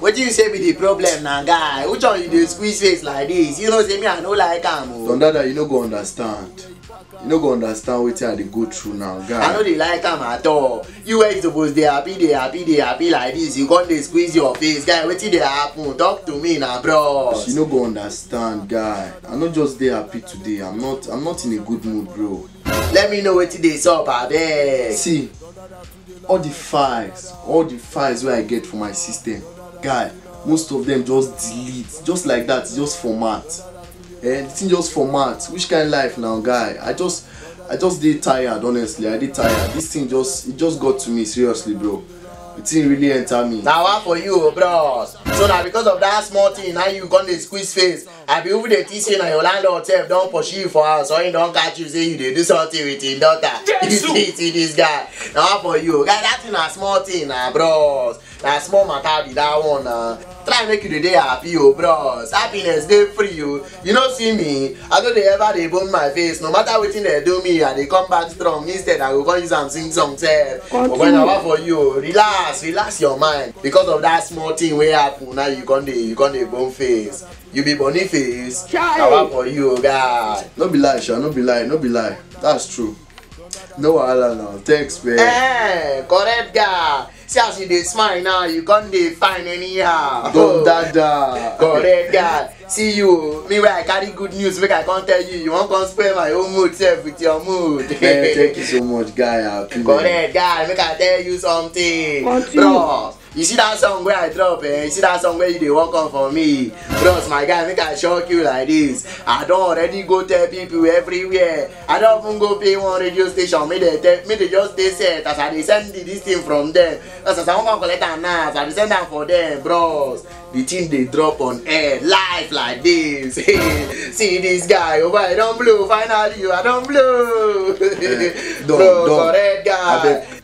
wetin you say be the problem na guy which one you dey squeeze face like this you know say me i no like am o. don dada you no go understand you no go understand wetin i dey go through now guy. i no dey like am at all you wey you suppose dey happy dey happy dey happy like this you come dey squeeze your face guy wetin dey happen talk to me na bros. you no go understand guy i no just dey happy today i'm not i'm not in a good mood bro. let me know wetin dey sup abeg. see all the files all the files wey i get for my system guy most of them just delete just like that just format eh the thing just format which kind life now guy i just i just dey tired honestly i dey tired this thing just it just got to me seriously bro the thing really enter me. na wa for you bros so na because of that small thing na you come dey squeeze face abi who dey think say na your landlord sef don pursue you for house or he don catch you say you dey do something with him daughter you see see this guy na one for you guy that thing na small thing na bros na small matter be that one na try make you dey dey happy o bros happiness dey free o you no see me i no dey ever dey bone my face no matter wetin dem do me i dey come back strong instead i go come use am sing song sef ogbeni na one for you o relax relax your mind because of that small thing wey happen now you come dey you come dey bone face. you be boniface awa for you o guy. no be lie sha no be lie no be lie that's true no wahala na thanks man. Eh, correct guy see as you dey smile now you come dey fine anyhow. don dada. correct guy see you o me wey i carry good news make i come tell you you wan come spoil my own mood sef with your mood. man thank you so much guy i happy man. correct guy make i tell you something. Continue. bros You see that song where I drop, eh? You see that song where you dey work on for me? Bros, my guy, make I shock you like this. I don already go tell people everywhere. I don even go pay one radio station, make they tell, make they just dey set as I dey send the, this thing from them. As as I wan come collect am now, as I dey send am for them, bros. The thing dey drop on air live like this. see this guy, oh boy, I don blow finally, oh, I don blow. Eh, don, bros, don. correct guy. Abeg,